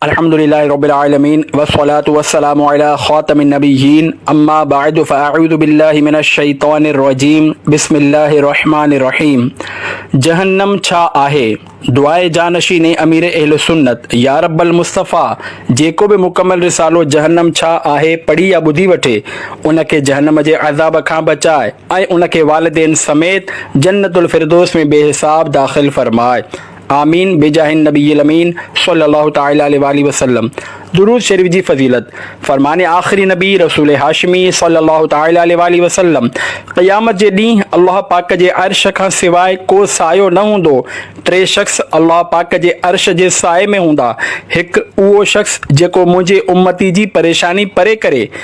الحمد لله رب العالمين والصلاة والسلام علي خاتم النبيين اما بعد فاعوذ بالله من الشيطان الرجيم بسم الله الرحمن الرحيم جهنم ڇا آهي دعاء جانشين امير اهل سنت يا رب المصطفي جيڪو به مڪمل رسالو جهنم ڇا آهي پڙهي يا ٻڌي وٺي ان کي جهنم جي عذاب کان بچاء ۽ ان کي والدين سميت جنت الفردوس ۾ بي حساب داخل فرماء آمين بجاھ النبي الامين صلي الله تعالٰي عليه واٰله وسلم درود شريف جي فضيلت فرمان آخري نبي رسول هاشمي صلي الله تعالٰي عليه واٰله وسلم قيامت جي ڏينهن الله پاڪ جي عرش کان سواء ڪو سايو نه هوندو ٽي شخص الله پاڪ جي عرش جي سائي ۾ هوندا هڪ اهو شخص جيڪو منهنجي امتي جي پريشاني پري ڪري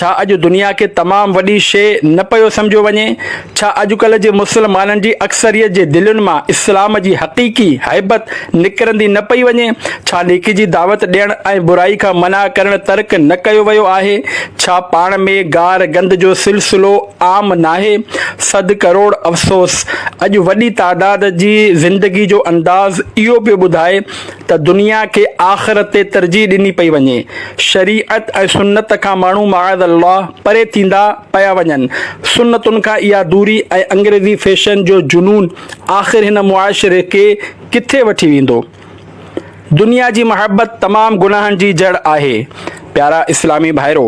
ڇا اڄ دنيا کي تمام وڏي شيء نه پيو سمجهيو وڃي؟ ڇا اڄڪلهه جي مسلمانن جي اڪثريت جي دلين مان اسلام جي حقيقي هيبت نڪرندي نه پئي وڃي؟ ڇا نيڪي جي دعوت ڏيڻ ۽ برائي کان منع ڪرڻ ترڪ نه ڪيو ويو آهي؟ ڇا پاڻ ۾ گار گند جو سلسلو عام ناهي؟ صد ڪروڙ افسوس! اڄ وڏي تعداد جي زندگي جو انداز اهو پيو ٻڌائي ته دنيا کي آخرت تي ترجيح ڏني پئي وڃي، شريعت ۽ سنت کان ماڻهو معاذ الله پري ٿيندا پيا وڃن، سنتن کان اها دوري ۽ انگريزي فيشن جو جنون آخر هن معاشري کي ڪٿي وٺي ويندو؟ دنيا جي محبت تمام گناهن جي جڙ آهي، پيارا اسلامي ڀائرو!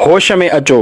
هوش ۾ اچو.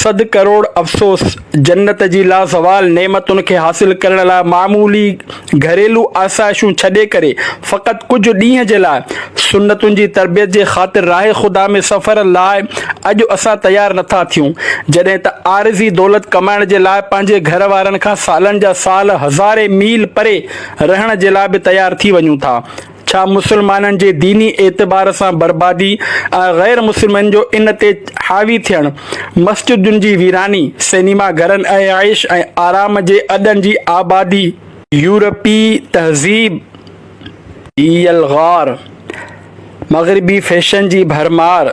سڌ ڪروڙ افسوس، جنت جي لازوال نعمتن کي حاصل ڪرڻ لاء معمولي گهريلو آسائشون ڇڏي ڪري فقط ڪجهه ڏينهن جي لاء سنتن جي تربيت جي خاطر راه خدا ۾ سفر لاء اڄ اسان تيار نٿا ٿيون جڏهن ته عارضي دولت ڪمائڻ جي لاء پنهنجي گهر وارن کان سالن جا سال هزارين ميل پري رهڻ جي لاء به تيار ٿي وڃون ٿا. ڇا مسلمانن جي ديني اعتبار سان بربادي ۽ غير مسلمن جو ان تي حاوي ٿيڻ، مسجدن جي ويراني، سئنيما گهرن ۽ عيش ۽ آرام جي اڏن جي آبادي، يورپي تهذيب جي يلغار، مغربي فيشن جي ڀرمار،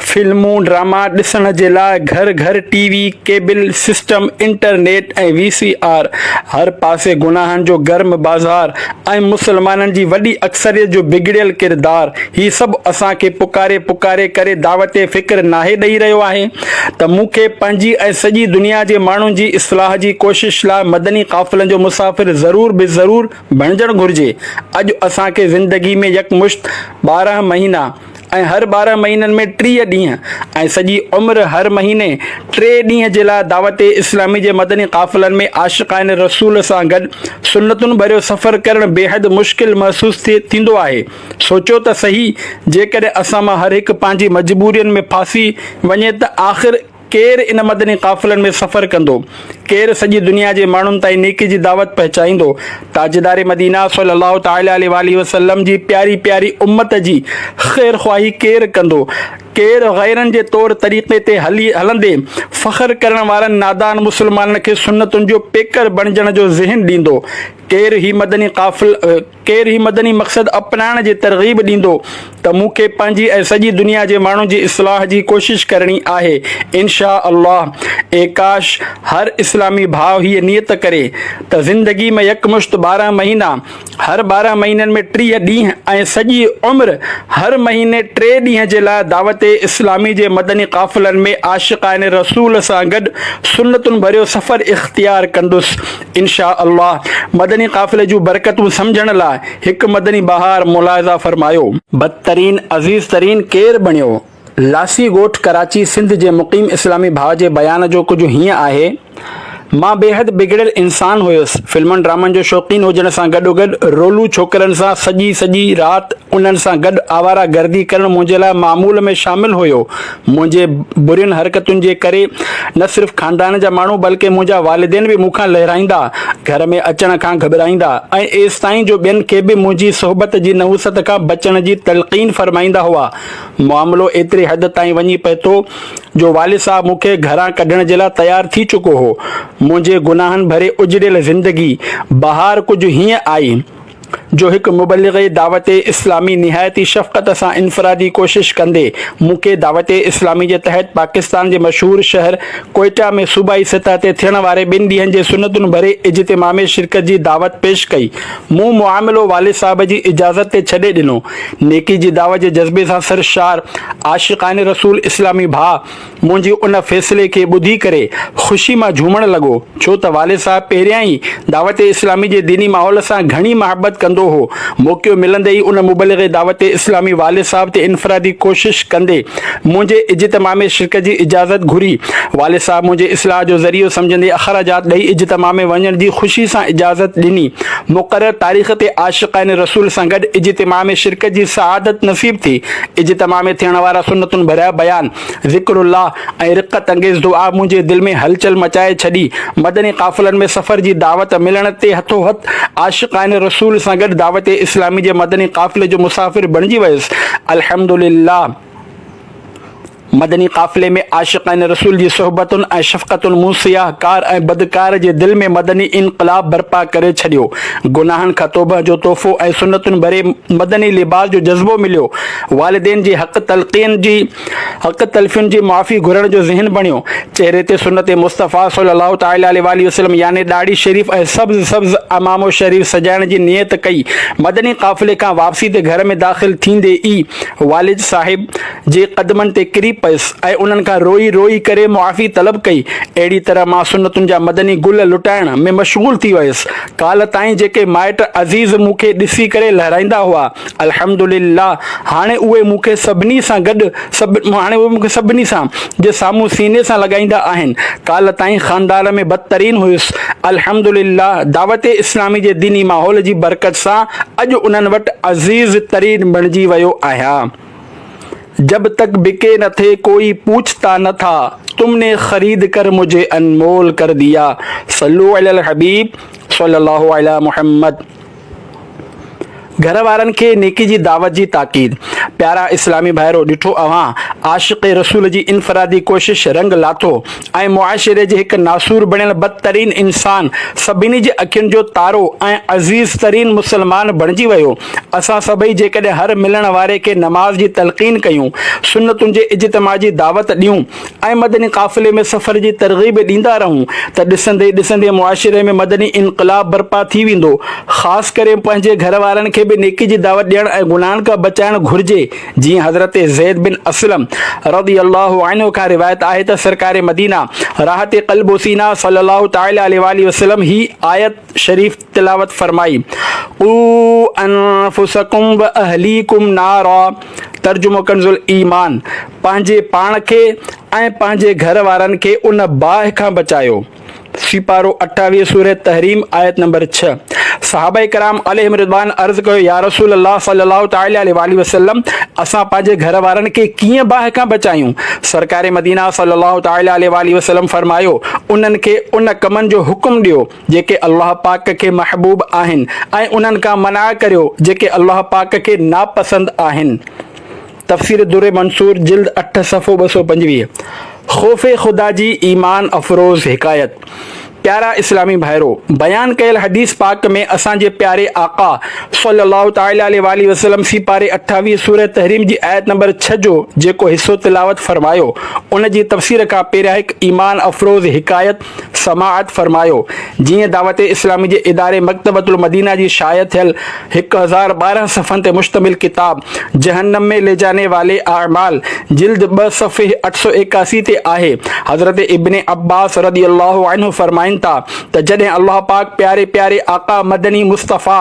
فلمون ڊراما ڏسڻ جي لاء گهر گهر T V cable system internet ۽ V C R هر پاسي گناهن جو گرم بازار ۽ مسلمانن جي وڏي اڪثريت جو بگڙيل ڪردار هي سڀ اسان کي پڪاري پڪاري ڪري دعوت فڪر ناهي ڏئي رهيو آهي ته مون کي پنهنجي ۽ سڄي دنيا جي ماڻهن جي اصلاح جي ڪوشش لاء مدني قافلن جو مسافر ضرور به ضرور بڻجڻ گهرجي اڄ اسان کي زندگي ۾ يڪمشت ٻارهن مهينا ۽ هر ٻارهن مهينن ۾ ٽيهه ڏينهن ۽ سڄي عمر هر مهيني ٽي ڏينهن جي لاء دعوت اسلامي جي مدني قافلن ۾ عاشقان رسول سان گڏ سنتن ڀريو سفر ڪرڻ بيحد مشڪل محسوس ٿيندو آهي سوچيو ته سهي جيڪڏهن اسان مان هر هڪ پنهنجي مجبورين ۾ ڦاسي وڃي ته آخر ڪير ان مدني قافلن ۾ سفر ڪندو، ڪير سڄي دنيا جي ماڻهن تائين نيڪي جي دعوت پهچائيندو، تاجدار مدينه صلّي اللّٰه تعالٰي عليه واٰله وسلّم جي پياري پياري امّت جي خير خواهي ڪير ڪندو، ڪير غيرن جي طور طريقي تي هلي هلندي فخر ڪرڻ وارن نادان مسلمانن کي سنّتن جو پيڪر بڻجڻ جو ذهن ڏيندو، ڪير هي مدني قافلا. ڪير هي مدني مقصد اپنائڻ جي ترغيب ڏيندو ته مون کي پنهنجي ۽ سڄي دنيا جي ماڻهن جي اصلاح جي ڪوشش ڪرڻي آهي انشاء الله اي ڪاش هر اسلامي ڀاء هيء نيت ڪري ته زندگي ۾ يڪمشت ٻارهن مهينا هر ٻارهن مهينن ۾ ٽيهه ڏينهن ۽ سڄي عمر هر مهيني ٽي ڏينهن جي لاء دعوت اسلامي جي مدني قافلن ۾ عاشقان رسول سان گڏ سنتن ڀريو سفر اختيار ڪندس انشاء الله مدني قافلي جون برڪتون سمجهڻ لاء هڪ مدني بهار ملاحظه فرمايو. بدترين عزيز ترين ڪير بڻيو؟ لاسي ڳوٺ ڪراچي سنڌ جي مقيم اسلامي ڀاء جي بيان جو ڪجهه هيئن آهي، مان بيحد بگڙيل انسان هيس، فلمن ڊرامن جو شوقين هجڻ سان گڏوگڏ رولو ڇوڪرن سان سڄي سڄي رات انهن سان گڏ آواره گردي ڪرڻ منهنجي لاء معمول ۾ شامل هيو، منهنجي برين حرڪتن جي ڪري نه صرف خاندان جا ماڻهو بلڪه منهنجا والدين به مون کان لهرائيندا، گهر ۾ اچڻ کان گهٻرائيندا ۽ ايستائين جو ٻين کي به منهنجي صحبت جي نحوست کان بچڻ جي تلقين فرمائيندا هئا. معاملو ايتري حد تائين وڃي پهتو جو والد صاحب مون کي گهران ڪڍڻ جي لاء تيار ٿي چڪو هو. منهنجي گناهن ڀري اجڙيل زندگي بهار ڪجهه هيئن آئي. جو هڪ مبلغ دعوت اسلامي نهايت ئي شفقت سان انفرادي ڪوشش ڪندي مون کي دعوت اسلامي جي تحت پاڪستان جي مشهور شهر ڪوئيٽا ۾ صوبائي سطح تي ٿيڻ واري ٻن ڏينهن جي سنتون ڀري اجتماع ۾ شرڪت جي دعوت پيش ڪئي مون معاملو والد صاحب جي اجازت تي ڇڏي ڏنو نيڪي جي دعوت جي جذبي سان سرشار عاشقان رسول اسلامي ڀاء منهنجي ان فيصلي کي ٻڌي ڪري خوشي مان جهومڻ لڳو، ڇو ته والد صاحب پهريان ئي دعوت اسلامي جي ديني ماحول سان گهڻي محبت ڪندو هو. موقعو ملندي ئي ان مبلغ دعوت اسلامي والد صاحب تي انفرادي ڪوشش ڪندي منهنجي اجتماع ۾ شرڪت جي اجازت گهري. والد صاحب منهنجي اصلاح جو ذريعو سمجهندي اخراجات ڏئي اجتماع ۾ وڃڻ جي خوشي سان اجازت ڏني. مقرر تاريخ تي عاشقان رسول سان گڏ اجتماع ۾ شرڪت جي سعادت نصيب ٿي. اجتماع ۾ ٿيڻ وارا سنتن ڀريا بيان، ذڪر الله ۽ رقت انگيز دعا منهنجي دل ۾ هلچل مچائي ڇڏي. مدني قافلن ۾ سفر جي دعوت ملڻ تي هٿو هٿ عاشقان رسول سان گڏ دعوت اسلامي جي مدني قافلي جو مسافر بڻجي ويس. الحمدلله مدني قافلي ۾ عاشقان رسول جي صحبتن ۽ شفقتن مون سياح ڪار ۽ بدڪار جي دل ۾ مدني انقلاب برپا ڪري ڇڏيو. گناهن کان توبهه جو تحفو ۽ سنتن ڀري مدني لباس جو جذبو مليو. والدين جي حق تلقين جي حق تلفين جي معافي گهرڻ جو ذهن بڻيو، چهري تي سنت مصطفيٰ صلّي الله تعالٰي عليه واٰله وسلّم يعني ڏاڙهي شريف ۽ سبز سبز عمامو شريف سجائڻ جي نيت ڪئي، مدني قافلي کان واپسي تي گهر ۾ داخل ٿيندي ئي والد صاحب جي قدمن تي ڪري پيس ۽ انهن کان روئي روئي ڪري معافي طلب ڪئي، اهڙي طرح مان سنتن جا مدني گل لٽائڻ ۾ مشغول ٿي ويس، ڪالهه تائين جيڪي مائٽ عزيز مون کي ڏسي ڪري لهرائيندا هئا، الحمدلله هاڻي اهي مون کي سڀني سان گڏ هاڻي اهي مون کي سڀني سان جي سامهون سيني سان لڳائيندا آهن. ڪالهه تائين خاندان ۾ بدترين هيس. الحمدلله دعوت اسلامي جي ديني ماحول جي برڪت سان اڄ انهن وٽ عزيز ترين بڻجي ويو آهيان. جب تڪ بڪي نه ٿي ڪوئي پوڇتا نه ٿا تم ني خريد ڪر مجهي انمول ڪر ديا صلو علي الحبيب صلي الله علي محمد. گهر وارن کي نيڪي جي دعوت جي تاڪيد. پيارا اسلامي ڀائرو! ڏٺو اوهان، عاشق رسول جي انفرادي ڪوشش رنگ لاٿو ۽ معاشري جي هڪ ناسور بڻيل بدترين انسان سڀني جي اکين جو تارو ۽ عزيز ترين مسلمان بڻجي ويو. اسان سڀئي جيڪڏهن هر ملڻ واري کي نماز جي تلقين ڪيون، سنتن جي اجتماع جي دعوت ڏيون، ۽ مدني قافلي ۾ سفر جي ترغيب ڏيندا رهون ته ڏسندي ڏسندي معاشري ۾ مدني انقلاب برپا ٿي ويندو. خاص ڪري پنهنجي گهر وارن کي به نيڪي جي دعوت ڏيڻ ۽ گناهن کان بچائڻ گهرجي جيئن حضرت زيد بن اسلم رضي الله عنه کان روايت آهي ته سرڪار مدينه راحت قلب وسينا صلي الله تعالٰي عليه واٰله وسلم هي آيت شريف تلاوت فرمائي، قو انفسکم و اهليکم نارا، ترجمو ڪنز الايمان، پنهنجي پاڻ کي ۽ پنهنجي گهر وارن کي ان باهه کان بچايو. سيپارو اٺاويهه سورة تحريم آيت نمبر ڇهه صحابه ڪرام عليهم رضوان عرض ڪيو يارسول الله صلي الله تعالي عليه واٰله وسلم اسان پنهنجي گهر وارن کي ڪيئن باهه کان بچايون؟ سرڪار مدينه صلي الله تعالي عليه واٰله وسلم فرمايو انهن کي ان ڪمن جو حڪم ڏيو جيڪي الله پاڪ کي محبوب آهن ۽ انهن کان منع ڪريو جيڪي الله پاڪ کي ناپسند آهن. تفسير در منصور جلد اٺ صفحو ٻه سؤ پنجويهه خوف خدا جي ايمان افروز حڪايت، پيارا اسلامي ڀائرو! بيان ڪيل حديث پاڪ ۾ اسان جي پياري آقا صلّي الله تعالٰي عليه واٰله وسلّم سي پاري اٺاويهه سورة تحريم جي آيت نمبر ڇهه جو جيڪو حصو تلاوت فرمايو ان جي تفسير کان پهريان هڪ ايمان افروز حڪايت سماعت فرمايو، جيئن دعوت اسلامي جي اداري مڪتبة المدينه جي شايع ٿيل هڪ هزار ٻارهن صفحن تي مشتمل ڪتاب جهنم مين لي جاني والي اعمال جلد ٻه صفحي اٺ سؤ ايڪاسي تي آهي حضرت ابن عباس رضي الله عنه فرمائن ٿا ته جڏهن الله پاڪ پياري پياري آقا مدني مصطفيٰ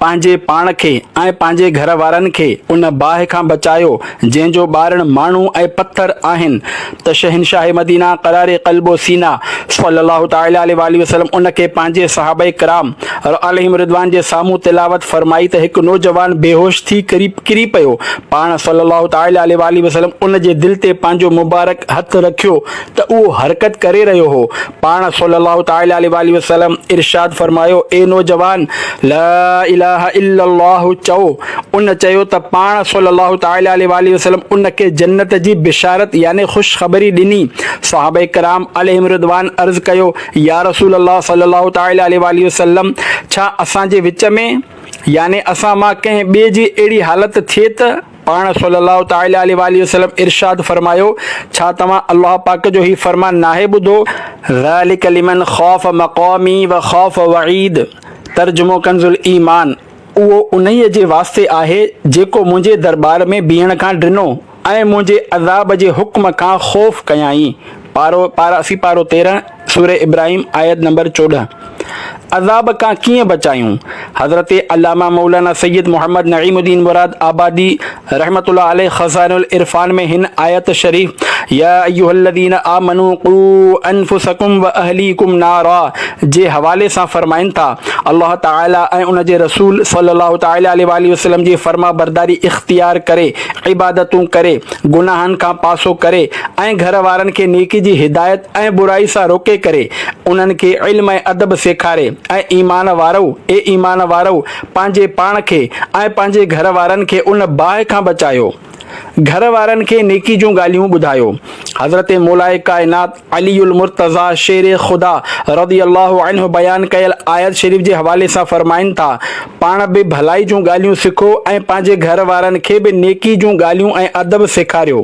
پنهنجي پاڻ کي ۽ پنهنجي گهر وارن کي ان باهه کان بچايو جنهن جو ٻارڻ ماڻهو ۽ پٿر آهن ته شهنشاهه مدينه قرار قلب و سينه صلّي الله تعالٰي عليه واٰله وسلّم ان کي پنهنجي صحابه ڪرام عليهم الرّضوان جي سامهون تلاوت فرمائي ته هڪ نوجوان بيهوش ٿي ڪري پيو پاڻ صلّي الله تعالٰي عليه واٰله وسلّم ان جي دل تي پنهنجو مبارڪ هٿ رکيو ته اهو حرڪت ڪري رهيو هو پاڻ صلّي اللّٰه تعالٰي عليه واٰله وسلّم ارشاد فرمايو، اي نوجوان! لا اله الا الله چئو. ان چيو ته پاڻ صلّي اللّٰه تعالٰي عليه واٰله وسلّم ان کي جنّت جي بشارت يعني خوشخبري ڏني. صحابه ڪرام عليهم الرّضوان عرض ڪيو، يا رسول الله صلّي اللّٰه تعالٰي عليه واٰله وسلّم! ڇا اسان جي وچ ۾ يعني اسان مان ڪنهن ٻئي جي اهڙي حالت ٿئي ته، پاڻ صلّي اللّٰه تعالٰي عليه واٰله وسلّم ارشاد فرمايو، ڇا توهان الله پاڪ جو هي فرمان ناهي ٻڌو، ذٰلڪ لمن خاف مقامي وخاف وعيد، ترجمو ڪنز الايمان، اهو انهيء جي واسطي آهي جيڪو منهنجي درٻار ۾ بيهڻ کان ڊنو ۽ منهنجي عذاب جي حڪم کان خوف ڪيائين. پارو، پارا سي پارو تيرهن، سورة ابراهيم، آيت نمبر چوڏهن، عذاب کان ڪيئن بچايون؟ حضرت علامه مولانا سيد محمد نعيم الدين مراد آبادي رحمة الله عليه خزائن العرفان ۾ هن آيت شريف يا ايها الذين آمنو قو انفسکم واهليکم نارا جي حوالي سان فرمائن ٿا، الله تعالي ۽ ان جي رسول صلي الله تعالي عليه واٰله وسلم جي فرمانبرداري اختيار ڪري، عبادتون ڪري، گناهن کان پاسو ڪري، ۽ گهر وارن کي نيڪي جي هدايت ۽ برائي سان روڪي ڪري انهن کي علم ۽ ادب سيکاري اي ايمان وارؤ اي ايمان وارؤ پنهنجي پاڻ کي ۽ پنهنجي گهر وارن کي ان باهه کان بچايو گهر وارن کي نيڪي جون ڳالهيون ٻڌايو حضرت مولائي ڪائنات علي المرتضيٰ شير خدا رضي الله عنه بيان ڪيل آيت شريف جي حوالي سان فرمائن ٿا پاڻ به ڀلائي جون ڳالهيون سکو ۽ پنهنجي گهر وارن کي به نيڪي جون ڳالهيون ۽ ادب سيکاريو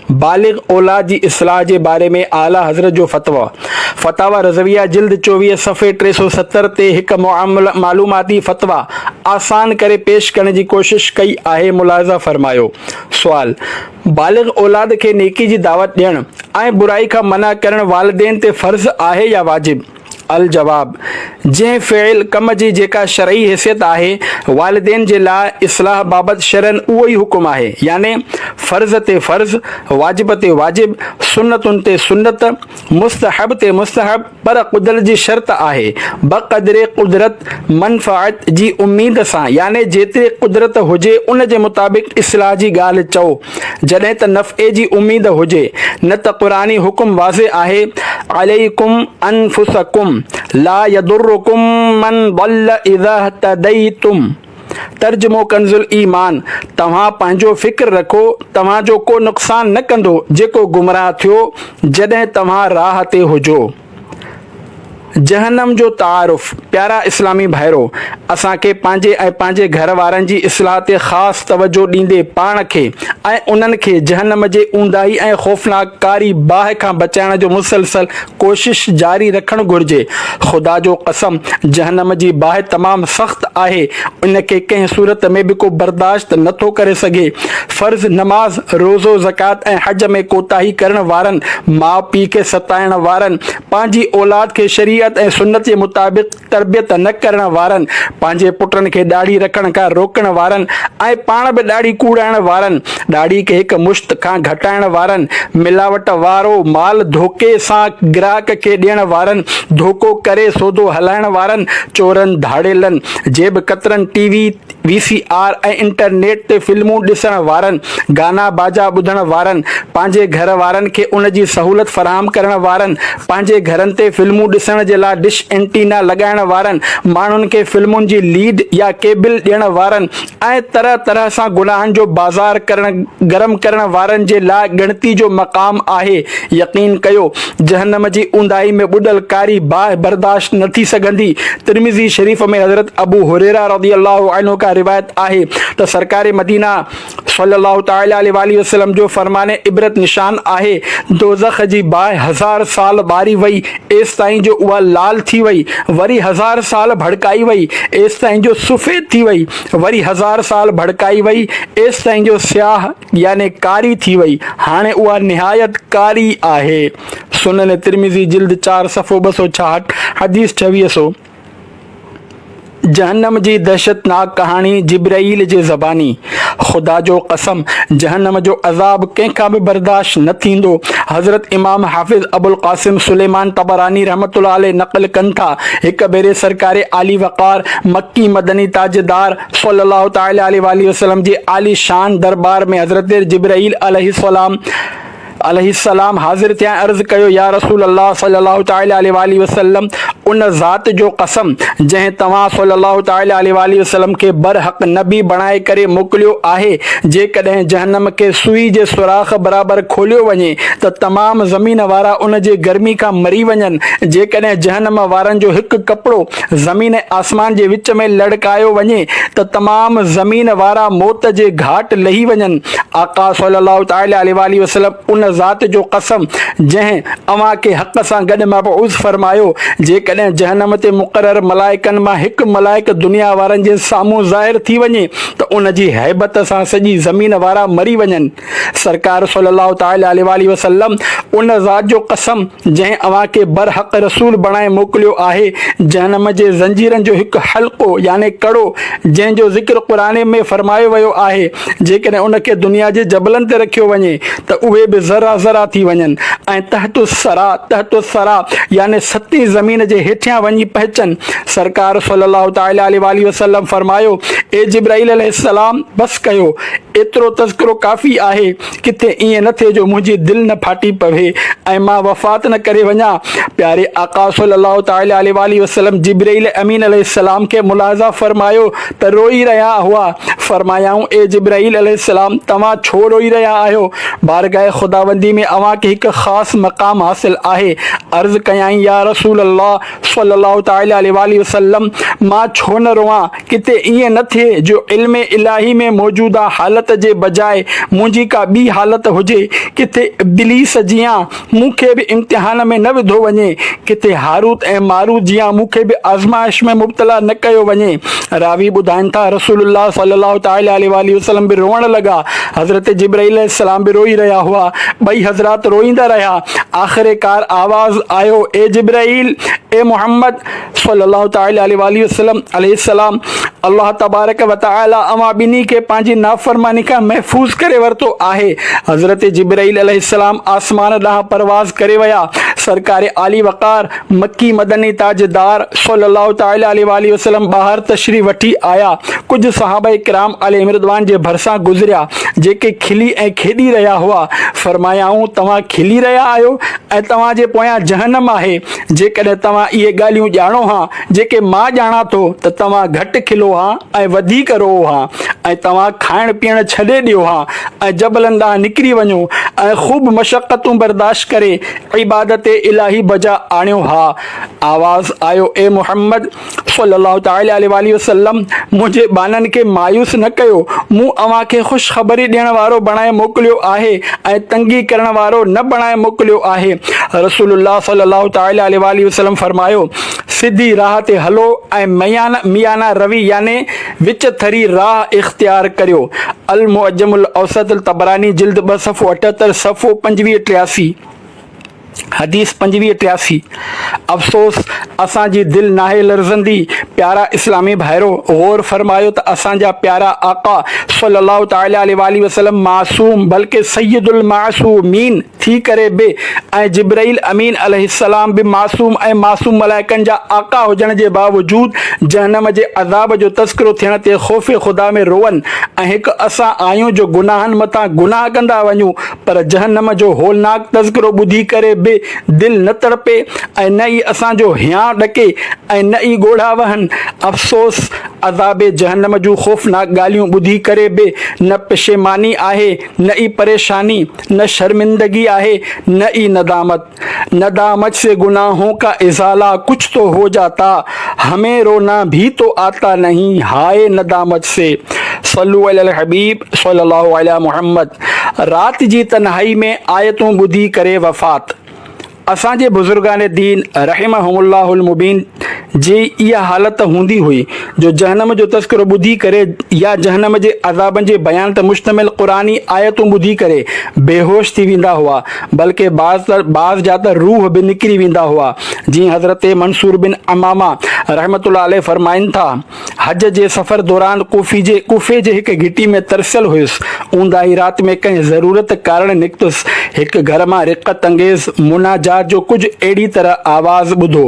بالغ اولاد جي اصلاح جي باري ۾ اعليٰ حضرت جو فتويٰ، فتاويٰ رضويه جلد چوويهه صفحي ٽي سؤ ستر تي هڪ معلوماتي فتويٰ آسان ڪري پيش ڪرڻ جي ڪوشش ڪئي آهي ملاحظه فرمايو سوال، بالغ اولاد کي نيڪي جي دعوت ڏيڻ ۽ برائي کان منع ڪرڻ والدين تي فرض آهي يا واجب؟ الجواب، جنهن فعل، ڪم، جي جيڪا شرعي حيثيت آهي، والدين جي لاء اصلاح بابت شرعن اهو ئي حڪم آهي، يعني فرض تي فرض، واجب تي واجب، سنتن تي سنت، مستحب تي مستحب، پر قدرت جي شرط آهي، بقدر قدرت، منفعت، جي اميد سان، يعني جيتري قدرت هجي ان جي مطابق اصلاح جي ڳالهه چئو. جڏهن ته نفعي جي اميد هجي، نه ته قرآني حڪم واضح آهي، عليڪم انفسکم لا يضرکم من ضل اذا اهتديتم، ترجمو ڪنزالايمان، توهان پنهنجو فڪر رکو، توهان جو ڪو نقصان نه ڪندو جيڪو گمراهه ٿيو جڏهن توهان راهه تي هجو. جهنم جو تعارف، پيارا اسلامي ڀائرو! اسان کي پنهنجي ۽ پنهنجي گهر وارن جي اصلاح تي خاص توجهه ڏيندي پاڻ کي ۽ انهن کي جهنم جي اونداهي ۽ خوفناڪ ڪاري باهه کان بچائڻ جو مسلسل ڪوشش جاري رکڻ گهرجي. خدا جو قسم جهنم جي باهه تمام سخت آهي، ان کي ڪنهن صورت ۾ به ڪو برداشت نه ٿو ڪري سگهي. فرض نماز، روزو، زڪوات ۽ حج ۾ ڪوتاهي ڪرڻ وارن، ماء پيء کي ستائڻ وارن، پنهنجي اولاد کي شريعت ۽ سنت جي مطابق تربيت نه ڪرڻ وارن، پنهنجي پٽن کي ڏاڙهي رکڻ کان روڪڻ وارن ۽ پاڻ به ڏاڙهي ڪوڙائڻ وارن، ڏاڙهي کي هڪ مشت کان گهٽائڻ وارن، ملاوٽ وارو مال ڌوڪي سان گراهڪ کي ڏيڻ وارن، ڌوڪو ڪري سودو هلائڻ وارن، چورن، ڌاڙيلن، جيب ڪترن، T V, V C R ۽ internet تي فلمون ڏسڻ وارن، گانا باجا ٻڌڻ وارن، پنهنجي گهر وارن کي ان جي سهولت فراهم ڪرڻ وارن، پنهنجي گهرن تي فلمون ڏسڻ جي لاء ڊش اينٽينا لڳائڻ وارن، ماڻهن کي فلمن جي ليڊ يا ڪيبل ڏيڻ وارن ۽ طرح طرح سان گناهن جو بازار گرم ڪرڻ وارن جي لاء ڳڻتي جو مقام آهي. يقين ڪيو! جهنم جي اونداهي ۾ ٻڏل ڪاري باهه برداشت نه ٿي سگهندي، ترمذي شريف ۾ حضرت ابو هريره رضي الله عنه کان روايت آهي ته سرڪار مدينه صلّي الله تعالٰي عليه واٰله وسلّم جو فرمان عبرت نشان آهي، دوزخ جي باهه هزار سال ٻاري وئي ايستائين جو اها لال ٿي وئي، وري هزار سال ڀڙڪائي وئي ايستائين جو سفيد ٿي وئي، وري هزار سال ڀڙڪائي وئي ايستائين جو سياهه. يعني ڪاري ٿي وئي، هاڻي اها نهايت ڪاري آهي. سنن ترمذي جلد چار صفحو ٻه سؤ ڇاهٺ، حديث ڇويهه سؤ، جهنم جي دهشتناڪ ڪهاڻي جبرئيل جي زباني، خدا جو قسم! جهنم جو عذاب ڪنهن کان به برداشت نه ٿيندو. حضرت امام حافظ ابوالقاسم سليمان طبراني رحمة الله عليه نقل ڪن ٿا، هڪ ڀيري سرڪار عالي وقار، مڪي مدني تاجدار، صلّي اللّٰه تعالٰي عليه واٰله وسلّم جي عالي شان درٻار ۾ حضرت جبرئيل عليه السّلام عليه السّلام حاضر ٿيا ۽ عرض ڪيو، يا رسول الله صلّي اللّٰه تعالٰي عليه واٰله وسلّم ان ذات جو قسم جنهن توهان صلّي اللّٰه تعالٰي عليه واٰله وسلّم کي برحق نبي بڻائي ڪري موڪليو آهي جيڪڏهن جهنّم کي سوئي جي سوراخ برابر کوليو وڃي ته تمام زمين وارا ان جي گرمي کان مري وڃن جيڪڏهن جهنّم وارن جو هڪ ڪپڙو زمين ۽ آسمان جي وچ ۾ لڙڪايو وڃي ته تمام زمين وارا موت جي گهاٽ لهي وڃن، آقا صلّي اللّٰه تعالٰي عليه واٰله وسلّم ان ذات جو قسم جنهن اوهان کي حق سان گڏ مبعوث فرمايو، جيڪڏهن جهنّم تي مقرر ملائڪن مان هڪ ملائڪ دنيا وارن جي سامهون ظاهر ٿي وڃي ته ان جي هيبت سان سڄي زمين وارا مري وڃن. سرڪار صلّي اللّٰه تعالٰي عليه واٰله وسلّم، ان ذات جو قسم جنهن اوهان کي برحق رسول بڻائي موڪليو آهي، جهنم جي زنجيرن جو هڪ حلقو يعني ڪڙو، جنهن جو ذڪر قرآن ۾ فرمايو ويو آهي، جيڪڏهن ان کي دنيا جي جبلن تي رکيو وڃي ته اهي به ذرا ذرا ٿي وڃن ۽ تحت الثريٰ، تحت الثريٰ، يعني ستين زمين جي هيٺيان وڃي پهچن، سرڪار صلّي اللّٰه تعالٰي عليه واٰله وسلّم فرمايو، اي جبرائيل عليه السّلام! بس ڪيو! ايترو تذڪرو ڪافي آهي، ڪٿي ائين نه ٿئي جو منهنجي دل نه ڦاٽي پوي ۽ مان وفات نه ڪري وڃان. پياري آقا صلّي اللّٰه تعالٰي عليه واٰله وسلّم جبرئيل امين عليه السّلام کي ملاحظه فرمايو ته روئي رهيا هئا، فرمايائون، اي جبرئيل عليه السّلام! توهان ڇو روئي رهيا آهيو؟ بارگاهه خداوندي ۾ اوهان کي هڪ خاص مقام حاصل آهي. عرض ڪيائين، يا رسول الله صلّي اللّٰه تعالٰي عليه واٰله وسلّم! مان ڇو نه روئان؟ ڪٿي ائين نه ٿئي جو علم الاهي ۾ موجوده حالت جي بجاء منهنجي ڪا ٻي حالت هجي، ڪٿي ابليس جيان مون کي به امتحان ۾ نه وڌو وڃي، ڪٿي هاروت ۽ ماروت جيان مون کي به آزمائش ۾ مبتلا نه ڪيو وڃي. راوي ٻڌائين ٿا، رسول الله صلّي الله تعالٰي عليه واٰله وسلّم به روئڻ لڳا، حضرت جبرئيل عليه السّلام به روئي رهيا هئا، ٻئي حضرات روئيندا رهيا، آخرڪار آواز آيو، اي جبرئيل! اي محمّد! صلّي اللّٰه تعالٰي عليه واٰله وسلّم، عليه السّلام، الله تبارڪ و تعالٰي اوهان ٻنهي کي پنهنجي نافرماني کان محفوظ ڪري ورتو آهي. حضرت جبرئيل عليه السّلام آسمان ڏانهن پرواز ڪري ويا. سرڪار عالي وقار، مڪي مدني تاجدار، صلّي اللّٰه تعالٰي عليه واٰله وسلّم ٻاهر تشريف وٺي آيا. ڪجهه صحابه ڪرام عليهم رّضوان جي ڀرسان گذريا، جيڪي کلي ۽ کيڏي رهيا هئا. فرمايائون، توهان کلي رهيا آهيو ۽ توهان جي پويان جهنّم آهي. جيڪڏهن توهان اهي ڳالهيون ڄاڻو ها، جيڪي مان ڄاڻان ٿو، ته توهان گهٽ کلو ها ۽ وڌيڪ روئو ها، ۽ توهان کائڻ پيئڻ ڇڏي ڏيو ها، ۽ جبلن ڏانهن نڪري وڃو، ۽ خوب مشقتون برداشت ڪري عبادت الاهي بجا آڻيو ها. آواز آيو، اي محمد! صلّي اللّٰه تعالٰي عليه واٰله وسلّم منهنجي ٻانهن کي مايوس نه ڪيو، مون اوهان کي خوشخبري ڏيڻ وارو بڻائي موڪليو آهي ۽ تنگي ڪرڻ وارو نه بڻائي موڪليو آهي. رسول الله صلّي اللّٰه تعالٰي عليه واٰله وسلّم فرمايو، سڌي راهه تي هلو ۽ ميانه روي يعني وچ ٿري راهه اختيار ڪريو. المعجم الاوسط الطبراني جلد ٻه صفحو اٺهتر، صفحو پنجويهه ٽياسي. حديث پنجويهه ٽياسي، افسوس! اسان جي دل ناهي لرزندي، پيارا اسلامي ڀائرو! غور فرمايو ته اسان جا پيارا آقا صلّي اللّٰه تعالٰي عليه واٰله وسلّم معصوم بلڪه سيّد المعصومين ٿي ڪري به ۽ جبرئيل امين عليه السّلام به معصوم ۽ معصوم ملائڪن جا آقا هجڻ جي باوجود جهنّم جي عذاب جو تذڪرو ٿيڻ تي خوف خدا ۾ روئن ۽ هڪ اسان آهيون جو گناهن مٿان گناهه ڪندا وڃون پر جهنم جو هولناڪ تذڪرو ٻڌي ڪري به دل نه تڙپي ۽ نه ئي اسان جو هيانء ڏڪي ۽ نه ئي ڳوڙها وهن. افسوس! عذاب جهنم جون خوفناڪ ڳالهيون ٻڌي ڪري به نه پشيماني آهي، نه ئي پريشاني، نه شرمندگي آهي، نه ئي ندامت. ندامت سي گناهون ڪا ازالا ڪچھ تو هو جاتا همين رونا ڀي تو آتا نهين هائي ندامت سي صلو علي الحبيب صلي الله علي محمد رات جي تنهائي ۾ آيتون ٻڌي ڪري وفات اسان جي بزرگان دين رحمهم الله المبين جي اها حالت هوندي هئي جو جهنم جو تذڪرو ٻڌي ڪري يا جهنم جي عذابن جي بيان تي مشتمل قرآني آيتون ٻڌي ڪري بيهوش ٿي ويندا هئا بلڪه بعض ته بعض جا ته روح به نڪري ويندا هئا جيئن حضرت منصور بن عمامه رحمة الله عليه فرمائن ٿا. حج جي سفر دوران ڪوفي جي ڪوفي جي هڪ گهٽي ۾ ترسيل هيس. اونداهي رات ۾ ڪنهن ضرورت ڪارڻ نڪتس. هڪ گهر مان رقت انگيز مناجات جو ڪجهه اهڙي طرح آواز ٻڌو،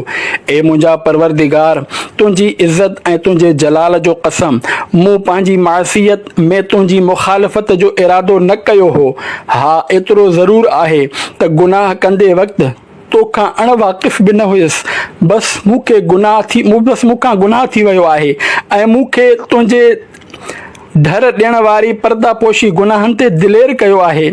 اي منهنجا پروردگار! تنهنجي عزت ۽ تنهنجي جلال جو قسم! مون پنهنجي معصيت ۾ تنهنجي مخالفت جو ارادو نه ڪيو هو. ها ايترو ضرور آهي ته گناهه ڪندي وقت، تو کان اڻ واقف به نه هيس، بس مون کي گناهه ٿي بس مون کان گناهه ٿي ويو آهي ۽ مون کي تنهنجي ڍر ڏيڻ واري پرده پوشي گناهن تي دلير ڪيو آهي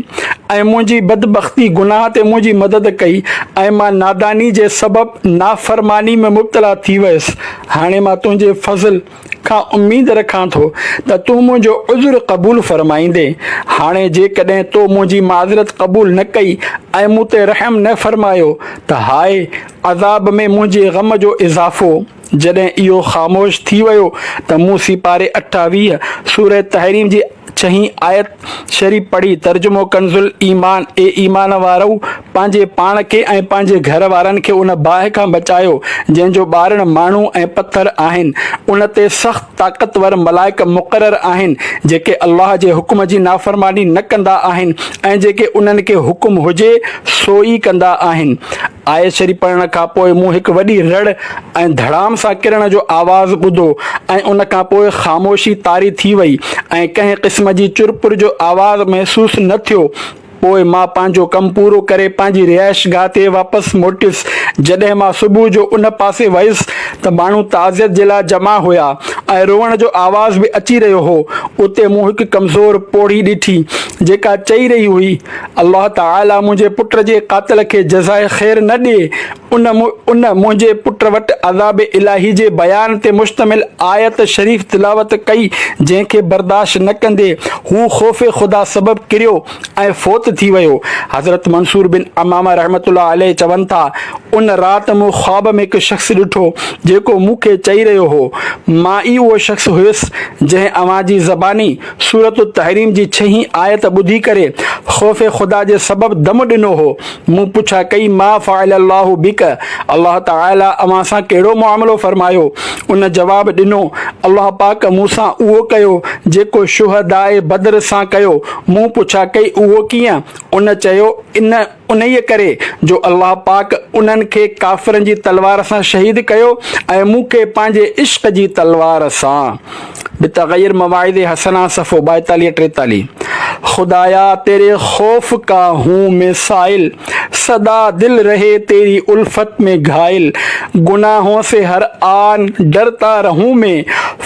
۽ منهنجي بدبختي گناهه تي منهنجي مدد ڪئي ۽ مان ناداني جي سبب نافرماني ۾ مبتلا ٿي ويس هاڻي مان تنهنجي فضل کان اميد رکان ٿو ته تون منهنجو عذر قبول فرمائيندين. هاڻي جيڪڏهن تو منهنجي معذرت قبول نه ڪئي ۽ مون تي رحم نه فرمايو ته هاء عذاب ۾ منهنجي غم جو اضافو. جڏهن اهو خاموش ٿي ويو ته مون سيپاري اٺاويهه، سورة تحريم جي ڇهين آيت شريف پڙهي، ترجمو ڪنز الايمان، اي ايمان وارؤ! پنهنجي پاڻ کي ۽ پنهنجي گهر وارن کي ان باهه کان بچايو، جنهن جو ٻارڻ ماڻهو ۽ پٿر آهن، ان تي سخت طاقتور ملائڪ مقرر آهن، جيڪي الله جي حڪم جي نافرماني نه ڪندا آهن ۽ جيڪي انهن کي حڪم هجي سو ئي ڪندا آهن. آيت شريف پڙهڻ کان پوء مون هڪ وڏي رڙ ۽ ڌڙام سان ڪرڻ جو آواز ٻڌو ۽ ان کان پوء خاموشي طاري ٿي وئي ۽ ڪنهن قسم جي چر پر جو آواز محسوس نه ٿيو. پوء مان پنهنجو ڪم پورو ڪري پنهنجي رهائشگاهه تي واپس موٽيس. جڏهن مان صبح جو ان پاسي ويس ته ماڻهو تعزيت جي لاء جمع هيا ۽ روئڻ جو آواز به اچي رهيو هو. اتي مون هڪ ڪمزور پوڙهي ڏٺي، جيڪا چئي رهي هئي، الله تعاليٰ منهنجي پٽ جي قاتل کي جزاء خير نه ڏي. ان ان منهنجي پٽ وٽ عذاب الاهي جي بيان تي مشتمل آيت شريف تلاوت ڪئي جنهن کي برداشت نه ڪندي هو خوف خدا سبب ڪريو ۽ فوت ٿي ويو. حضرت منصور بن عمامه رحمة الله عليه چون ٿا، ان رات مون خواب ۾ هڪ شخص ڏٺو جيڪو مون کي چئي رهيو هو، مان ئي اهو شخص هيس جنهن اوهان جي زباني سورة التحريم جي ڇهين آيت ٻڌي ڪري خوف خدا جي سبب دم ڏنو هو. مون پڇا ڪئي ما فعل الله بک، الله تعاليٰ اوهان سان ڪهڙو معاملو فرمايو؟ ان جواب ڏنو، الله پاڪ مون سان اهو ڪيو جيڪو شهداء بدر سان ڪيو. مون پڇا ڪئي اهو ڪيئن؟ ان چيو، ان. انهيء ڪري جو الله پاڪ انهن کي ڪافرن جي تلوار سان شهيد ڪيو ۽ مون کي پنهنجي عشق جي تلوار سان به تغير مواعظ حسنه صفحو ٻائيتاليهه ٽيتاليهه خدايا تيري خوف ڪا هون مين سائل سدا دل رهي تيري الفت مين گهائل گناهون سي هر آن ڊرتا رهون مين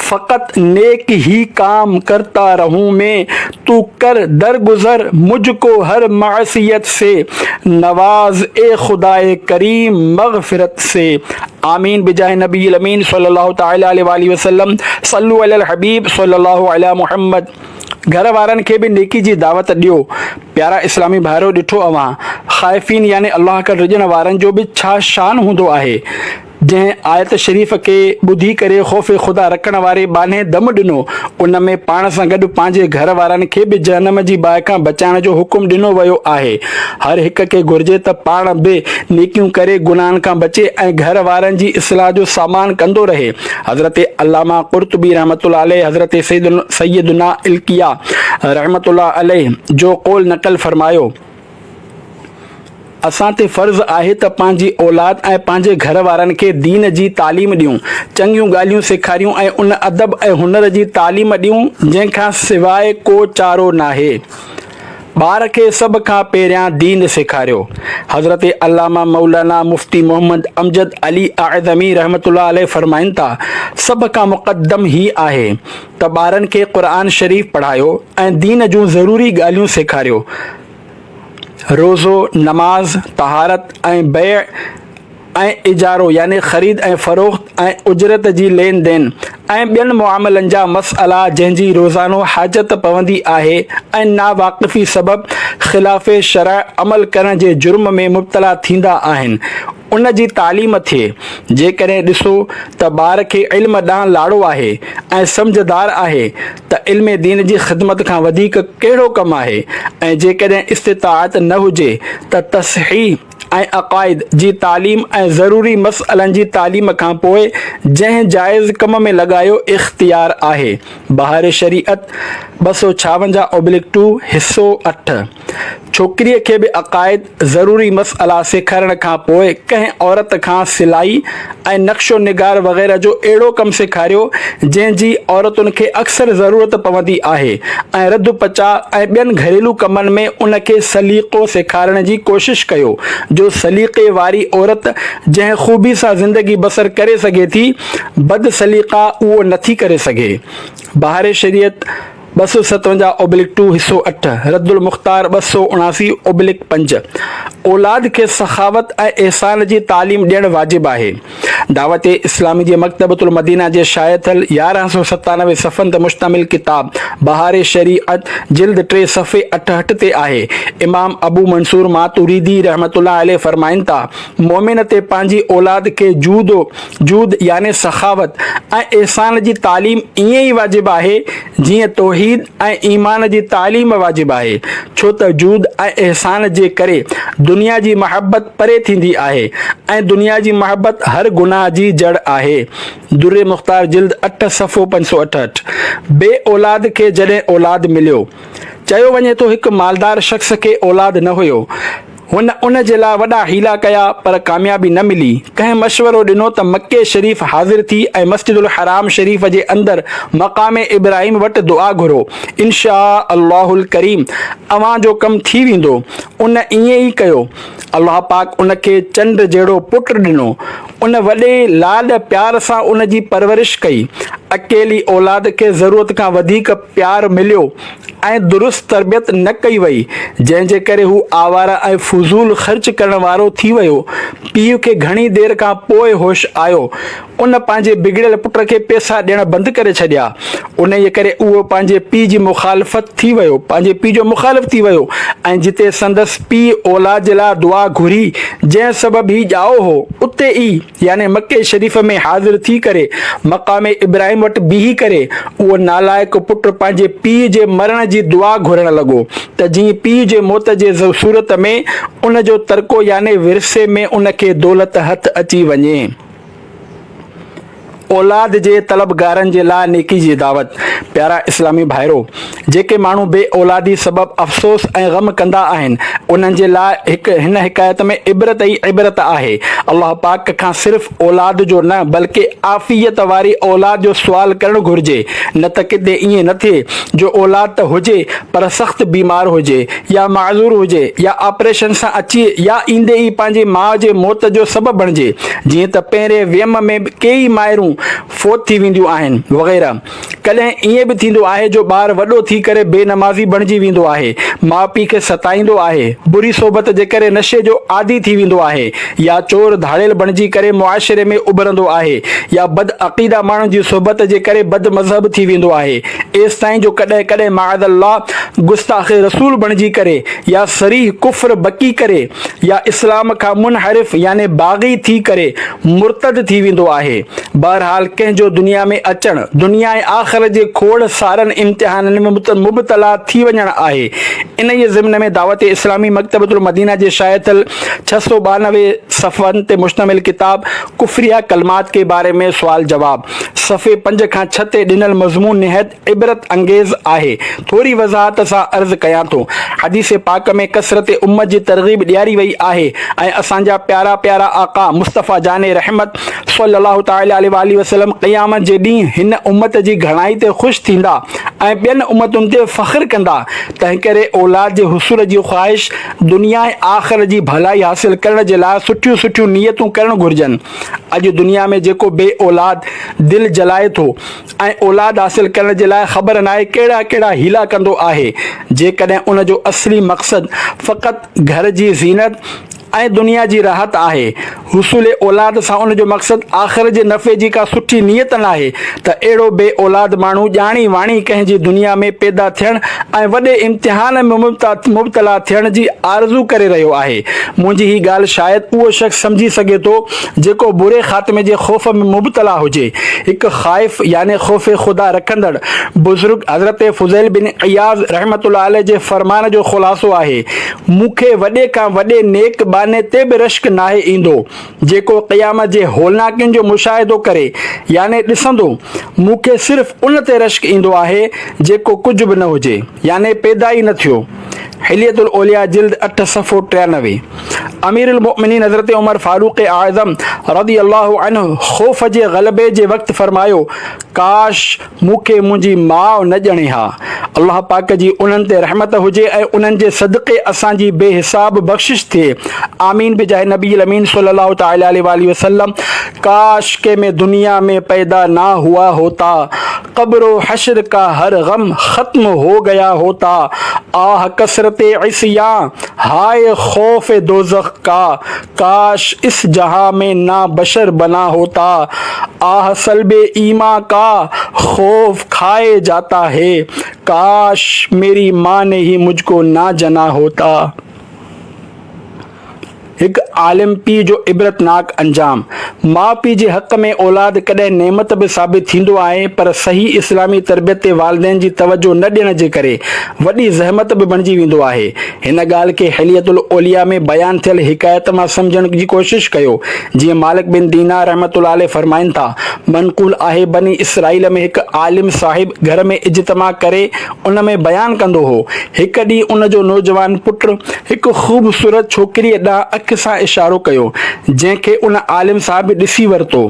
فقط نيڪ هي ڪام ڪرتا رهون مين تو ڪر در گذر مجھ ڪو ھر معصيت سي نواز اي خدائي ڪريم مغفرت سي آمين بجاھ نبي الامين صلي الله تعالي عليه واٰله وسلم صلو علي الحبيب صلي الله علي محمد گھر وارن کي به نيڪي جي دعوت ڏيو پيارا اسلامي ڀائرو ڏٺو اوھان خائفين يعني الله کان ڊڄڻ وارن جو به ڇا شان ھوندو آھي جنهن آيت شريف کي ٻڌي ڪري خوف خدا رکڻ واري ٻانهي دم ڏنو، ان ۾ پاڻ سان گڏ پنهنجي گهر وارن کي به جهنم جي باهه کان بچائڻ جو حڪم ڏنو ويو آهي. هر هڪ کي گهرجي ته پاڻ به نيڪيون ڪري گناهن کان بچي ۽ گهر وارن جي اصلاح جو سامان ڪندو رهي. حضرت علامه قرطبي رحمة الله عليه حضرت سيدنا القيا رحمة الله عليه جو قول نقل فرمايو. اسان تي فرض آهي ته پنهنجي اولاد ۽ پنهنجي گهر وارن کي دين جي تعليم ڏيون، چڱيون ڳالهيون سيکاريون ۽ ان ادب ۽ هنر جي تعليم ڏيون جنهن کان سواء ڪو چارو ناهي. ٻار کي سڀ کان پهريان دين سيکاريو. حضرت علامه مولانا مفتي محمد امجد علي اعظمي رحمة الله عليه فرمائن ٿا، سڀ کان مقدم هي آهي ته ٻارن کي قرآن شريف پڙهايو ۽ دين جون ضروري ڳالهيون سيکاريو. روزو، نماز، طهارت ۽ بيع ۽ اجارو يعني خريد ۽ فروخت ۽ اجرت جي لين دين ۽ ٻين معاملن جا مسئلا جنهن جي روزانو حاجت پوندي آهي ۽ ناواقفي سبب خلاف شرع عمل ڪرڻ جي جرم ۾ مبتلا ٿيندا آهن ان جي تعليم ٿئي. جيڪڏهن ڏسو ته ٻار کي علم ڏانهن لاڙو آهي ۽ سمجهدار آهي ته علم دين جي خدمت کان وڌيڪ ڪهڙو ڪم آهي ۽ جيڪڏهن استطاعت نه هجي ته تصحيح ۽ عقائد جي تعليم ۽ ضروري مسئلن جي تعليم کان پوء جنهن جائز ڪم ۾ لڳايو اختيار آهي. بهار شريعت، ٻه سؤ ڇاونجاهه اوبليڪ ٽو، حصو اٺ. ڇوڪريء کي به عقائد، ضروري مسئلا سيکارڻ کان پوء ڪنهن عورت کان سلائي ۽ نقش و نگار وغيره جو اهڙو ڪم سيکاريو، جنهن جي عورتن کي اڪثر ضرورت پوندي آهي ۽ رڌ پچاء ۽ ٻين گهريلو ڪمن ۾ ان کي سليقو سيکارڻ جي ڪوشش ڪيو، جو سليقي واري عورت جنهن خوبي سان زندگي بسر ڪري سگهي ٿي، بدسليقا اهو نٿي ڪري سگهي. بهار شريعت. ٻه سؤ ستونجاهه اوبلڪ ٽو حصو اٺ، رد المختار ٻه سؤ اڻاسي اوبلڪ پنج، اولاد کي سخاوت ۽ احسان جي تعليم ڏيڻ واجب آهي. دعوت اسلامي جي مڪتبة المدينه جي شايع ٿيل يارهن سؤ ستانوي صفحن تي مشتمل ڪتاب بهار شريعت جلد ٽي صفحي اٺهٺ تي آهي امام ابو منصور ماتريدي رحمة الله عليه فرمائن ٿا، مؤمن تي پنهنجي اولاد کي جود و جود يعني سخاوت ۽ احسان جي تعليم ائين ئي واجب آهي، جيئن توحيد ۽ ايمان جي تعليم واجب آهي، ڇو ته جود ۽ احسان جي ڪري دنيا جي محبت پري ٿيندي آهي ۽ دنيا جي محبت هر گناهه جي جڙ آهي. در مختار جلد اٺ صفحو پنج سؤ اٺهٺ. بي اولاد کي جڏهن اولاد مليو. چيو وڃي ٿو هڪ مالدار شخص کي اولاد نه هيو. هن ان جي لاء وڏا حيلا ڪيا پر ڪاميابي نه ملي. ڪنهن مشورو ڏنو ته مڪي شريف حاضر ٿي ۽ مسجد الحرام شريف جي اندر مقام ابراهيم وٽ دعا گهرو، انشآء الله الڪريم اوهان جو ڪم ٿي ويندو. ان ائين ئي ڪيو. الله پاڪ ان کي چنڊ جهڙو پٽ ڏنو. ان وڏي لاڏ پيار سان ان جي پرورش ڪئي. اڪيلي اولاد کي ضرورت کان وڌيڪ. پيار مليو ۽ درست تربيت نه ڪئي وئي، جنهن جي ڪري هو آواره ۽ فضول خرچ ڪرڻ وارو ٿي ويو. پيء کي گهڻي دير کان پوء هوش آيو. ان پنهنجي بگڙيل پٽ کي پيسا ڏيڻ بند ڪري ڇڏيا. انهيء ڪري اهو پنهنجي پيء جي مخالفت ٿي ويو، پنهنجي پيء جو مخالف ٿي ويو ۽ جتي سندس پيء اولاد جي لاء دعا گهري، جنهن سبب هي ڄائو هو، اتي ئي. يعني مڪي شريف ۾ حاضر ٿي ڪري مقام ابراهيم وٽ بيهي ڪري اهو نالائق پٽ پنهنجي پيء جي مرڻ جي دعا گهرڻ لڳو ته جيئن پيء جي موت جي صورت ۾ ان جو ترڪو يعني ورثي ۾ ان کي دولت هٿ اچي وڃي. اولاد جي طلبگارن جي لاء نيڪي جي دعوت پيارا اسلامي ڀائرو! جيڪي ماڻهو بي اولادي سبب افسوس ۽ غم ڪندا آهن، انهن جي لاء هڪ هن حڪايت ۾ عبرت ئي عبرت آهي. الله پاڪ کان صرف اولاد جو نه بلڪه عافيت واري اولاد جو سوال ڪرڻ گهرجي نه ته ڪٿي ائين نه ٿئي جو اولاد ته هجي پر سخت بيمار هجي يا معذور هجي يا آپريشن سان اچي يا ايندي ئي پنهنجي ماء جي موت جو سبب بڻجي جيئن ته پهرين ويم ۾ ڪيئي مائرون فوت ٿي وينديون آهن وغيره. ڪڏهن ائين به ٿيندو آهي جو ٻار وڏو ٿي ڪري بي نمازي بڻجي ويندو آهي، ماء پيء کي ستائيندو آهي، بري صحبت جي ڪري نشي جو عادي ٿي ويندو آهي يا چور ڌاڙيل بڻجي ڪري معاشري ۾ اڀرندو آهي يا بد عقيده ماڻهن جي صحبت جي ڪري بد مذهب ٿي ويندو آهي ايستائين جو ڪڏهن ڪڏهن معاذ الله گستاخ رسول بڻجي ڪري يا صريح ڪفر بڪي ڪري يا اسلام کان منحرف يعني باغي ٿي ڪري مرتد ٿي ويندو آهي. بهرحال ڪنهن جو دنيا ۾ اچڻ، دنيا ۽ آخرت جي کوڙ سارن امتحانن ۾ مبتلا ٿي وڃڻ آهي. انهيء ضمن ۾ دعوت اسلامي مڪتبة المدينه جي شايع ٿيل ڇهه سؤ ٻانوي صفحن تي مشتمل ڪتاب ڪفريه ڪلمات ڪي باري ۾ سوال جواب صفحي پنج کان ڇهه تي ڏنل مضمون نهايت عبرت انگيز آهي. ٿوري وضاحت سان عرض ڪيان ٿو. حديث پاڪ ۾ ڪثرت امّت جي ترغيب ڏياري وئي آهي ۽ اسان جا پيارا پيارا آقا مصطفيٰ جان رحمت صلّي الله تعالٰي عليه واٰله وسلّم قيامت جي ڏينهن هن امّت جي گهڻائي تي خوش ٿيندا ۽ ٻين امّتن تي فخر ڪندا تنهنڪري اولاد جي حصول جي خواهش دنيا ۽ آخرت جي ڀلائي حاصل ڪرڻ جي لاء سٺيون سٺيون نيتون ڪرڻ گهرجن اڄ دنيا ۾ جيڪو بي اولاد دل جلائي ٿو ۽ اولاد حاصل ڪرڻ جي لاء خبر ناهي ڪهڙا ڪهڙا حيلا ڪندو آهي، جيڪڏهن ان جو اصلي مقصد فقط گهر جي زينت ۽ دنيا جي راحت آهي، حصول اولاد سان ان جو مقصد آخر جي نفعي جي ڪا سٺي نيت ناهي ته اهڙو بي اولاد ماڻهو ڄاڻي واڻي ڪنهن جي دنيا ۾ پيدا ٿيڻ ۽ وڏي امتحان ۾ مبتلا ٿيڻ جي آرزو ڪري رهيو آهي، منهنجي هي ڳالهه شايد اهو شخص سمجهي سگهي ٿو جيڪو بري خاتمي جي خوف ۾ مبتلا هجي، هڪ خائف يعني خوف خدا رکندڙ بزرگ حضرت فضيل بن عياض رحمة الله عليه جي فرمان جو خلاصو آهي، مون کي وڏي کان وڏي نيڪ ٻانهي تي به رشڪ ناهي ايندو، جيڪو قيامت جي هولناڪين جو مشاهدو ڪري يعني ڏسندو، مون کي صرف ان تي رشڪ ايندو آهي، جيڪو ڪجهه به نه هجي يعني پيدا ئي نه ٿيو. حلية الاولياء جلد اٺ صفحو ٽيانوي امير المؤمنين حضرت عمر فاروق اعظم رضي الله عنه خوف جي غلبي جي وقت فرمايو ڪاش مون کي منهنجي ماء نه ڄڻي ها الله پاڪ جي انهن تي رحمت هجي ۽ انهن جي صدقي اسان جي بي حساب بخشش ٿئي آمين بجاه نبي الامين صلي الله تعالي عليه واٰله وسلم ڪاش ڪي مين دنيا مين پيدا نا هوا هوتا قبر و حشر ڪا هر غم ختم هو گيا هوتا آه کسرت عصيان هاء خوف دوزخ ڪا ڪاش اس جهان مين نا بشر بنا هوتا آه سلب ايمان ڪا خوف کائي جاتا هي ڪاش ميري ماء ني هي مجھ ڪو نا جنا هوتا. هڪ عالم پيء جو عبرتناڪ انجام. ماء پيء جي حق ۾ اولاد ڪڏهن نعمت به ثابت ٿيندو آهي پر صحيح اسلامي تربيت تي والدين جي توجهه نه ڏيڻ جي ڪري وڏي زحمت به بڻجي ويندو آهي. هن ڳالهه کي حلية الاولياء ۾ بيان ٿيل حڪايت مان سمجهڻ جي ڪوشش ڪيو. جيئن مالڪ بن دينار رحمة الله عليه فرمائن ٿا، منقول آهي بني اسرائيل ۾ هڪ عالم صاحب گهر ۾ اجتماع ڪري ان ۾ بيان ڪندو هو. هڪ ڏينهن ان جو نوجوان پٽ هڪ خوبصورت ڇوڪريء ڏانهن اک سان اشارو ڪيو، جنهن کي ان عالم صاحب ڏسي ورتو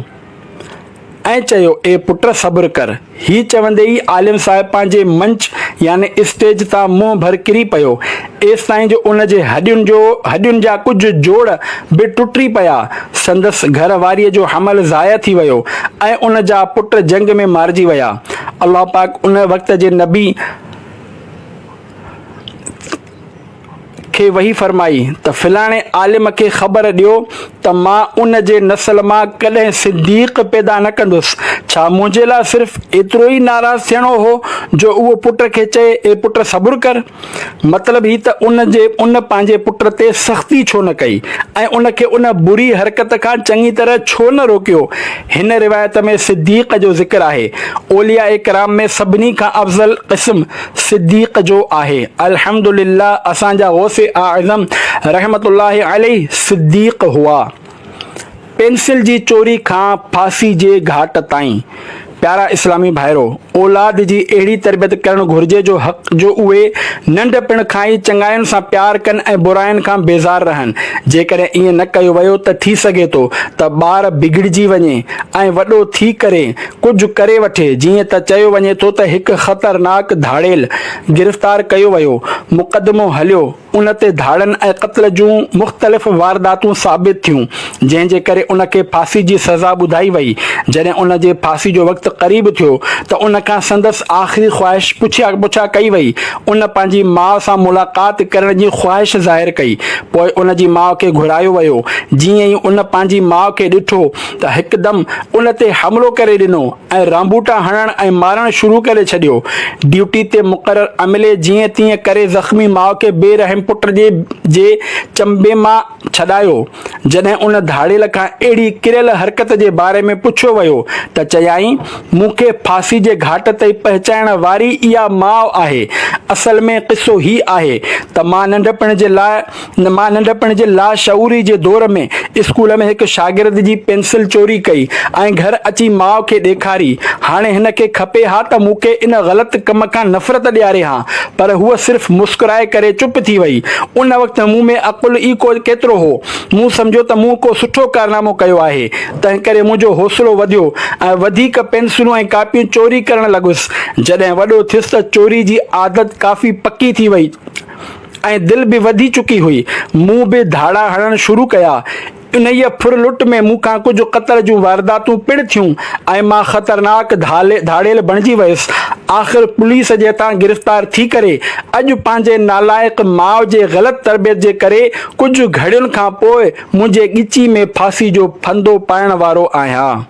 ۽ چيو، اي پٽ صبر ڪر. هي چوندي ئي عالم صاحب پنهنجي منچ يعني اسٽيج تان منهن ڀر ڪري پيو ايستائين جو ان جي هڏين جو هڏين جا ڪجهه جوڙ به ٽٽي پيا. سندس گهر واريء جو حمل ضايع ٿي ويو ۽ ان جا پٽ جنگ ۾ مارجي ويا. الله پاڪ ان وقت جي نبي ص کي وحي فرمائي ته فلاڻي عالم کي خبر ڏيو ته مان ان جي نسل مان ڪڏهن صديق پيدا نه ڪندس. ڇا منهنجي لاء صرف ايترو ئي ناراض ٿيڻو هو جو اهو پٽ کي چئي اي پٽ صبر ڪر! مطلب هي ته ان جي ان پنهنجي پٽ تي سختي ڇو نه ڪئي ۽ ان کي ان بري حرڪت کان چڱي طرح ڇو نه روڪيو؟ هن روايت ۾ صديق جو ذڪر آهي. اولياء ڪرام ۾ سڀني کان افضل قسم صديق جو آهي. الحمدلله اسان جا غوث اعظم رحمة الله عليه صديق هئا. پينسل جي چوري کان ڦاسي جي گهاٽ تائين پيارا اسلامي ڀائرو! اولاد جي اهڙي تربيت ڪرڻ گهرجي جو حق جو اهي ننڍپڻ کان ئي چڱاين سان پيار ڪن ۽ براين کان بيزار رهن. جيڪڏهن ايئن نه ڪيو ويو ته ٿي سگهي ٿو ته ٻار بگڙجي وڃي ۽ وڏو ٿي ڪري ڪجهه ڪري وٺي جيئن ته چيو وڃي ٿو ته هڪ خطرناڪ ڌاڙيل گرفتار ڪيو ويو، مقدمو هليو، ان تي ڌاڙن ۽ قتل جون مختلف وارداتون ثابت ٿيون، جنهن جي ڪري ان کي ڦاسي جي سزا ٻڌائي وئي. جڏهن ان جي ڦاسي جو وقت قريب ٿيو ته ان کان سندس آخري خواهش پڇا پڇا ڪئي وئي. ان پنهنجي ماء سان ملاقات ڪرڻ جي خواهش ظاهر ڪئي. پوء ان جي ماء کي گهرايو ويو. جيئن ئي ان پنهنجي ماء کي ڏٺو ته هڪدم ان تي حملو ڪري ڏنو. ۽ رانبوٽا هڻڻ ۽ مارڻ شروع ڪري ڇڏيو. ڊيوٽي تي مقرر عملي جيئن تيئن ڪري زخمي ماء کي بي رحم پٽ جي جي چنبي مان ڇڏايو. جڏهن ان ڌاڙيل کان اهڙي ڪريل حرڪت جي باري ۾ پڇيو ويو ته چيائين، مون کي ڦاسي جي گهاٽ تائين پهچائڻ واري اها ماء آهي. اصل ۾ قصو هي آهي ته مان ننڍپڻ جي لاء مان ننڍپڻ جي لاشعوري جي دور ۾ اسڪول ۾ هڪ شاگرد جي پينسل چوري ڪئي ۽ گهر اچي ماء کي ڏيکاري. هاڻي هن کي کپي ها ته مون کي ان غلط ڪم کان نفرت ڏياري ها، پر هوء صرف مسڪرائي ڪري چپ ٿي وئي. ان وقت مون ۾ عقل ئي ڪو ڪيترو هو. مون سمجهيو ته مون ڪو سٺو ڪارنامو ڪيو آهي، تنهنڪري منهنجو حوصلو وڌيو ۽ وڌيڪ پينسلون ۽ ڪاپيون چوري ڪرڻ لڳس. جڏهن وڏو ٿيس ته چوري جي عادت ڪافي پڪي ٿي وئي. ۽ دل به وڌي چڪي هئي. مون به ڌاڙا هڻڻ شروع ڪيا. انهيء ڦر لٽ ۾ مون کان ڪجهه قتل جون وارداتون پڻ ٿيون ۽ مان خطرناڪ ڌاڙيل بڻجي ويس. آخر پوليس جي هٿان گرفتار ٿي ڪري، اڄ پنهنجي نالائق ماء جي غلط تربيت جي ڪري ڪجهه گهڙين کان پوء منهنجي ڳچي ۾ ڦاسي جو ڦندو پائڻ وارو آهيان.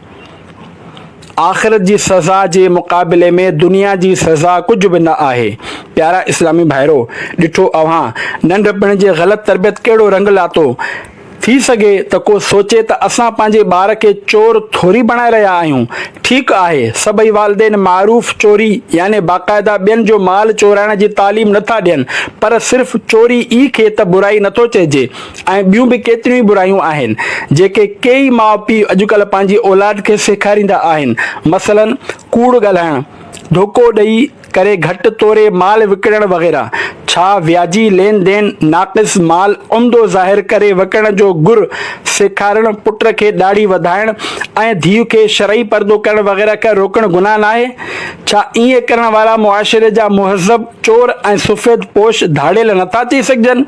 آخرت جي سزا جي مقابلي ۾ دنيا جي سزا ڪجهه به نه آهي. پيارا اسلامي ڀائرو! ڏٺو اوهان ننڍپڻ جي غلط تربيت ڪهڙو رنگ لاتو. ٿي سگهي ته ڪو سوچي ته اسان پنهنجي ٻار کي چور ٿوري بڻائي رهيا آهيون. ٺيڪ آهي سڀئي والدين معروف چوري يعني باقاعده ٻين جو مال چورائڻ جي تعليم نه ٿا ڏين پر صرف چوري ئي کي ته برائي نه ٿو چئجي. ۽ ٻيون به ڪيتريون ئي برايون آهن جيڪي ڪيئي ماء پيء اڄڪلهه پنهنجي اولاد کي سيکاريندا آهن مثلا ڪوڙ ڳالهائڻ، ڌوڪو ڏئي ڪري گهٽ توري مال وڪڻڻ وغيره ڇا وياجي لين دين ناقص مال عمدو ظاهر ڪري وڪڻڻ جو گر سيکارڻ پٽ کي ڏاڙهي وڌائڻ ۽ ڌيء کي شرعي پردو ڪرڻ وغيره کان روڪڻ گناهه ناهي ڇا ائين ڪرڻ وارا معاشري جا مهذب چور ۽ سفيد پوش ڌاڙيل نٿا ٿي سگهجن؟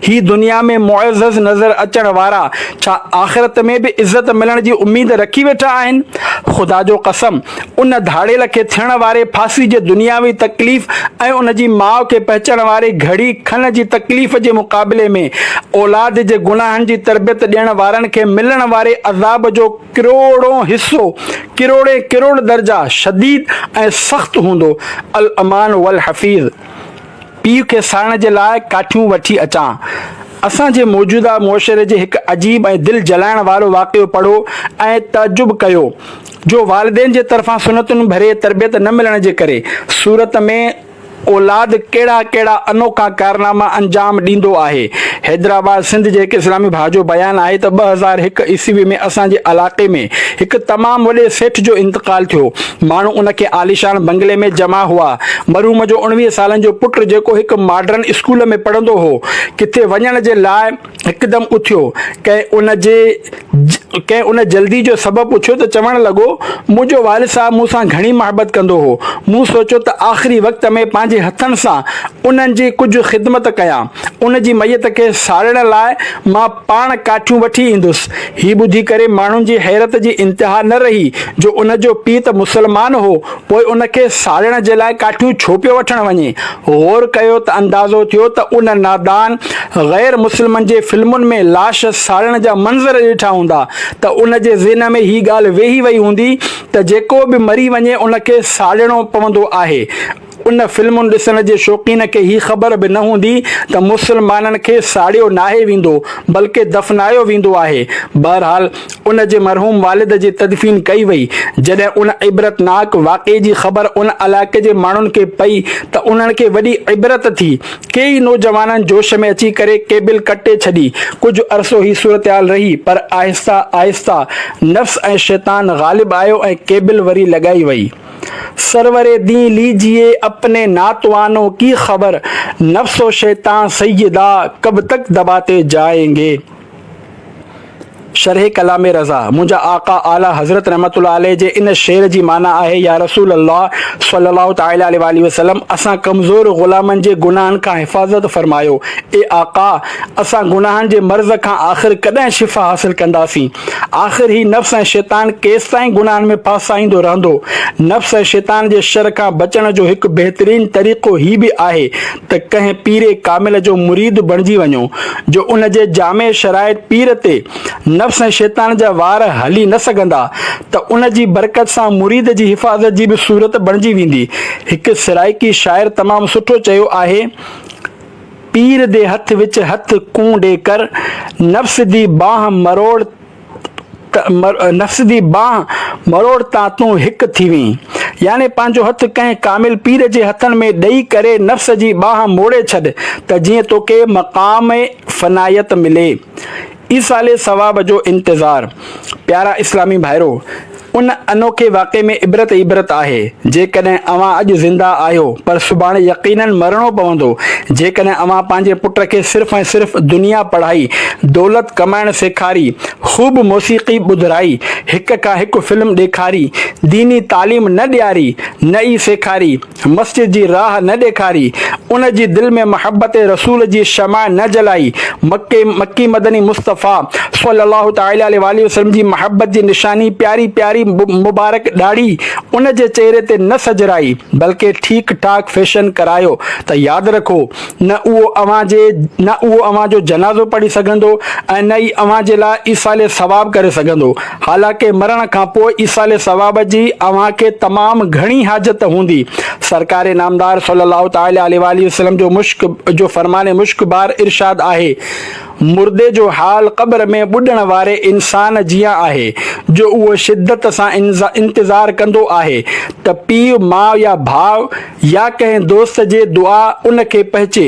هي دنيا ۾ معزز نظر اچڻ وارا ڇا آخرت ۾ به عزت ملڻ جي اميد رکي ويٺا آهن؟ خدا جو قسم! ان ڌاڙيل کي ٿيڻ واري ڦاسي جي دنياوي تڪليف ۽ ان جي ماء کي پهچڻ واري گهڙي کن جي تڪليف جي مقابلي ۾ اولاد جي گناهن جي تربيت ڏيڻ وارن کي ملڻ واري عذاب جو ڪروڙون حصو، ڪروڙي ڪروڙ درجا شديد ۽ سخت هوندو. الامان والحفيظ پيء کي ساڙڻ جي لاء ڪاٺيون وٺي اچان. اسان جي موجوده معاشري جي هڪ عجيب ۽ دل جلائڻ وارو واقعو پڙهو ۽ تعجب ڪيو جو والدين جي طرفان سنتون ڀري تربيت نه ملڻ جي ڪري صورت ۾، اولاد ڪهڙا ڪهڙا انوکا ڪارناما انجام ڏيندو آهي. حيدرآباد سنڌ جي هڪ اسلامي ڀاء جو بيان آهي ته ٻه هزار هڪ عيسوي ۾ اسان جي علاقي ۾ هڪ تمام وڏي سيٺ جو انتقال ٿيو. ماڻهو ان کي عاليشان بنگلي ۾ جمع هئا. مرحوم جو اڻويهه سالن جو پٽ جيڪو هڪ ماڊرن اسڪول ۾ پڙهندو هو ڪٿي وڃڻ جي لاء. هڪدم اٿيو. ڪنهن ان جي ڪنهن ان جلدي جو سبب پڇيو ته چوڻ لڳو، منهنجو والد صاحب مون سان گهڻي محبت ڪندو هو. مون سوچيو ته آخري وقت ۾ پنهنجي هٿن سان انهن جي ڪجهه خدمت ڪيان. ان جي ميت کي ساڙڻ لاء مان پاڻ ڪاٺيون وٺي ايندس. هي ٻڌي ڪري ماڻهن جي حيرت جي انتها نه رهي جو ان جو پيء ته مسلمان هو، پوء ان کي ساڙڻ جي لاء ڪاٺيون ڇو پيو وٺڻ وڃي؟ غور ڪيو ته اندازو ٿيو ته ان نادان غير مسلمن جي فلمن ۾ لاش ساڙڻ جا منظر ڏٺا هوندا ته ان جي ذهن ۾ هي ڳالهه ويهي وئي هوندي ته جيڪو به مري وڃي ان کي ساڙڻو پوندو آهي. ان فلمون ڏسڻ جي شوقين کي هي خبر به نه هوندي ته مسلمانن کي ساڙيو ناهي ويندو بلڪه دفنايو ويندو آهي. بهرحال ان جي مرحوم والد جي تدفين ڪئي وئي. جڏهن ان عبرتناڪ واقعي جي خبر ان علائقي جي ماڻهن کي پئي ته انهن کي وڏي عبرت ٿي. ڪيئي نوجوانن جوش ۾ اچي ڪري ڪيبل ڪٽي ڇڏي. ڪجهه عرصو هي صورتحال رهي پر آهستي آهستي نفس ۽ شيطان غالب آيو ۽ ڪيبل وري لڳائي وئي. سرور دين ليجيي اپني ناتوانو ڪي خبر نفس و شيطان سيدا ڪب تڪ دباتي جائينگي. شرح ڪلام رضا، منهنجا آقا اعليٰ حضرت رحمة الله عليه جي ان شعر جي معنيٰ آهي، يا رسول الله صلّي الله تعالٰي عليه واٰله وسلّم اسان ڪمزور غلامن جي گناهن کان حفاظت فرمايو، اي آقا! اسان گناهن جي مرض کان آخر ڪڏهن شفا حاصل ڪنداسين؟ آخر هي نفس ۽ شيطان ڪيستائين گناهن ۾ ڦاسائيندو رهندو؟ نفس ۽ شيطان جي شر کان بچڻ جو هڪ بهترين طريقو هي به آهي ته ڪنهن پير ڪامل جو مريد بڻجي وڃو، جو ان جي جامع شرائط پير تي نفس ۽ شيطان جا وار هلي نه سگهندا ته ان جي برڪت سان مريد جي حفاظت جي به صورت بڻجي ويندي. هڪ سرائيڪي شاعر تمام سٺو چيو آهي، پير دي هٿ وچ هٿ ڪون ڏي ڪر، نفس دي بانهه مروڙ، ته نفس جي بانهه مروڙ تان تون هڪ ٿي وئين. يعني پنهنجو هٿ ڪنهن ڪامل پير جي هٿن ۾ ڏئي ڪري نفس جي بانهه موڙي ڇڏ ته جيئن توکي مقام فنائيت ملي. ايصال ثواب جو انتظار. پيارا اسلامي ڀائرو! ان انوکي واقعي ۾ عبرت ئي عبرت آهي. جيڪڏهن اوهان اڄ زنده آهيو، پر سڀاڻي يقيناً مرڻو پوندو. جيڪڏهن اوهان پنهنجي پٽ کي صرف ۽ صرف دنيا پڙهائي، دولت ڪمائڻ سيکاري، خوب موسيقي ٻڌرائي، هڪ کان هڪ فلم ڏيکاري، ديني تعليم نه ڏياري، نه ئي سيکاري، مسجد جي راهه نه ڏيکاري، ان جي دل ۾ محبت رسول جي شمع نه جلائي، مڪي مڪي مدني مصطفيٰ صلّي اللّٰه تعالٰي عليه واٰله وسلّم جي محبت جي نشاني پياري پياري مبارڪ ڏاڙهي ان جي چهري تي نه سجرائي، بلڪه ٺيڪ ٺاڪ فيشن ڪرايو ته ياد رکو! نه اهو اوهان جي نه اهو اوهان جو جنازو پڙهي سگهندو ۽ نه ئي اوهان جي لاء ايصال ثواب ڪري سگهندو. حالانڪه مرڻ کان پوء ايصال ثواب جي اوهان کي تمام گهڻي حاجت هوندي. سرڪار نامدار صلّي اللّٰه تعالٰي عليه واٰله وسلّم جو مشڪ جو فرمان مشڪ بار ارشاد آهي، مردي جو حال قبر ۾ ٻڏڻ واري انسان جيان آهي، جو اهو شدّت سان انتظار ڪندو آهي ته پيء، ماء يا ڀاء، يا ڪنهن دوست جي دعا ان کي پهچي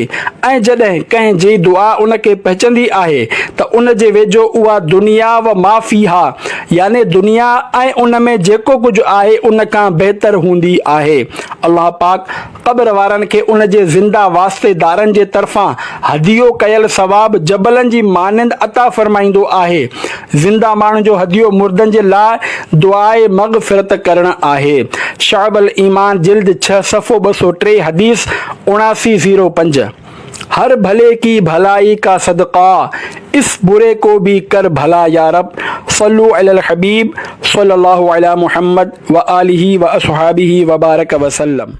۽ جڏهن ڪنهن جي دعا ان کي پهچندي آهي ته ان جي ويجهو اها دنيا و ما فيها يعني دنيا ۽ ان ۾ جيڪو ڪجهه آهي ان کان بهتر هوندي آهي. الله پاڪ قبر وارن کي ان جي زنده واسطي دارن جي طرفان هديو ڪيل ثواب جبلن جي مانند عطا فرمائيندو آهي زنده ماڻهن جو هديو مردن جي لاء دعائي مغفرت ڪرڻ آهي، شعب الايمان جلد ڇهه صفحو ٻه سؤ ٽي حديث اڻاسي زيرو پنج، هر ڀلي ڪي ڀلائي ڪا صدقه اس بري ڪو ڀي ڪر ڀلا يارب صلو علي الحبيب صلي الله علي محمد وآله واصحابه وبارک وسلم.